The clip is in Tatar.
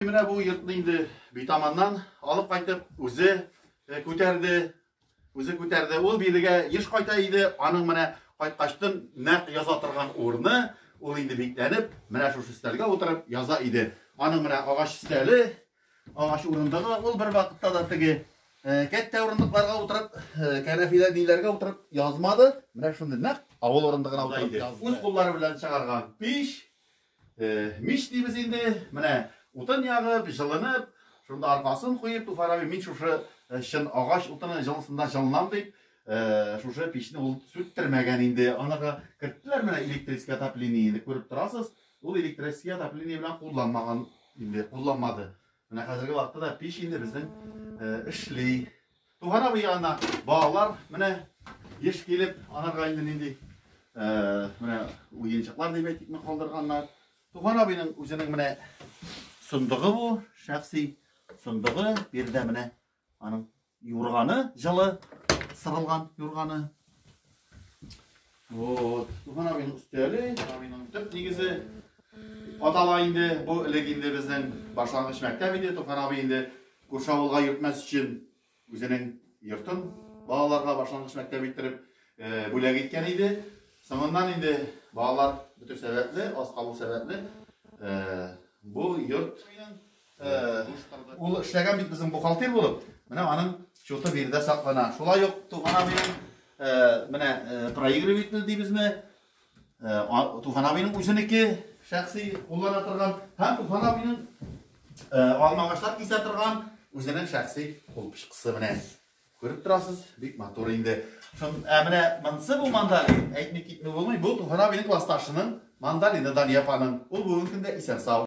Менә бу йортны инде битаманнан алып кайтып, үзе э, күтәрде, үзе күтәрде. Ул бирегә еш кайта иде, аның менә кайткачтын нәкъ яза торган урыны, ул инде бикләнеп, менә шушы өстәлгә утырып яза иде. Аның менә агач өстәле, агач урындыгы, ул бер вакытта да теге э, кәттә урындыкларга утырып, э, кәнәфилә ниләргә утырып язмады. Менә шундый нәкъ авыл урындыгына утырып язды. Үз куллары белән чыгарган пич, Мич дибез инде, менә утын ягып, җылынып, шунда аркасын куеп, Туфар абый, мин шушы чын агач утыны җылысында җылынам дип, шушы пичне ул сүттермәгән инде. Анага керттеләр менә электрический отопление, инде күреп торасыз, ул электрический отопление белән кулланмаган инде, кулланмады. Менә хәзерге вакытта да пич инде безнең эшли. Туган абый янына балалар менә еш килеп, аларга инде нинди менә уенчыклар дип әйтикме калдырганнар. Туган абыйның үзенең менә сондыгы бу, шәхси сондыгы, бердә менә аның юрганы, җылы сырылган юрганы. Вот. Бу минем өстәле, минем төп нигезе. Атала инде, бу элек инде безнең башлангыч мәктәп иде, Туфан абый инде күрше авылга йөртмәс өчен үзенең йортын балаларга башлангыч мәктәп иттереп э, бүләк иткән иде. Соңыннан инде балалар бөтен сәбәпле, аз калу сәбәпле, э, бу йорт Ул эшләгән бит безнең бухгалтер булып. Менә аның счеты биредә саклана. Шулай ук туган абыйның менә проигрыватель дибезме? Туган абыйның үзенеке шәхси куллана торган һәм туган абыйның алмагачлар кисә торган үзенең шәхси кул пычкысы менә. Күреп торасыз, бик матур инде. Шун, ә менә монсы бу мандалин, әйтми китми булмый. Бу туган абыйның классташының мандалины Дания апаның. Ул бүгенге көндә исән-сау.